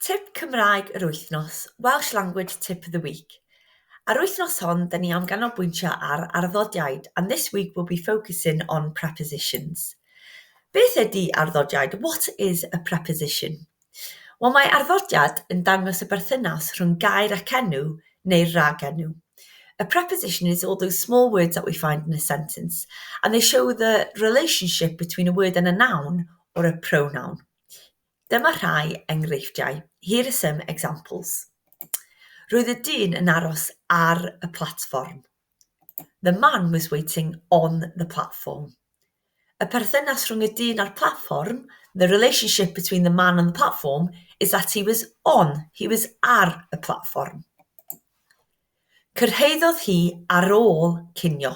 Tip Cymraeg yr Wythnos, Welsh Language Tip of the Week. Ar wythnos hon, da ni am ganolbwyntio ar arddodiaid, and this week we'll be focusing on prepositions. Beth ydy arddodiaid? What is a preposition? Wel, mae arddodiad yn dangos y berthynas rhwng gair ac enw neu'r ragenw. A preposition is all those small words that we find in a sentence, and they show the relationship between a word and a noun or a pronoun. Dyma rhai enghreifftiau, here are some examples. Roedd y dyn yn aros ar y platfform. The man was waiting on the platform. Y perthynas rhwng y dyn a'r platfform, the relationship between the man and the platform, is that he was on, he was ar y platfform. Cyrhaeddodd hi ar ôl cinio.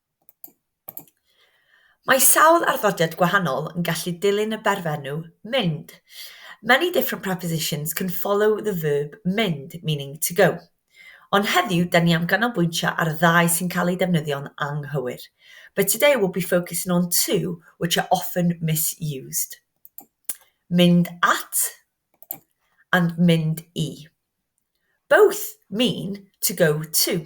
Mae sawl arddodiad gwahanol yn gallu dilyn y berfenw 'mynd'. Many different prepositions can follow the verb 'mynd', meaning 'to go'. Ond heddiw 'da ni am ganolbwyntio ar y ddau sy'n cael eu defnyddio'n anghywir. But today we'll be focusing on two which are often misused. Mynd at and mynd i. Both mean to go to.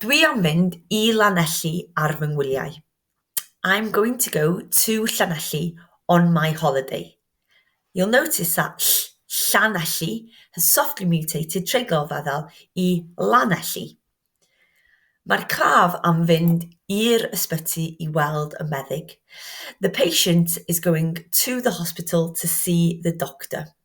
Dwi am fynd i Lanelli ar fy ngwyliau. I'm going to go to Llanelli on my holiday. You'll notice that ll- Llanelli has softly mutated treiglo feddal i Lanelli. Mae'r claf am fynd i'r ysbyty i weld y meddyg. The patient is going to the hospital to see the doctor.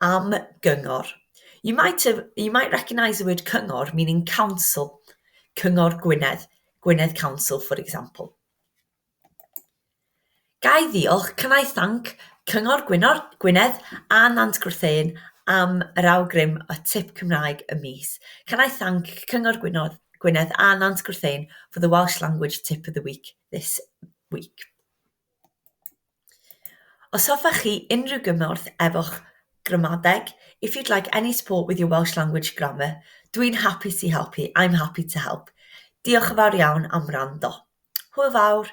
am gyngor. You might, have, you might recognise the word cyngor meaning council, Cyngor Gwynedd, Gwynedd Council for example. Gai ddiolch, can I thank, Cyngor Gwynor, Gwynedd a Nant Gwrtheuyn am yr awgrym a tip Cymraeg y mis. Can I thank Cyngor Gwynor, Gwynedd a Nant Gwrtheuyn for the Welsh language tip of the week this week. Os hoffech chi unrhyw gymorth efo'ch gramadeg, if you'd like any support with your Welsh language grammar, dwi'n hapus i helpu, I'm happy to help. Diolch yn fawr iawn am wrando. Hwyl fawr!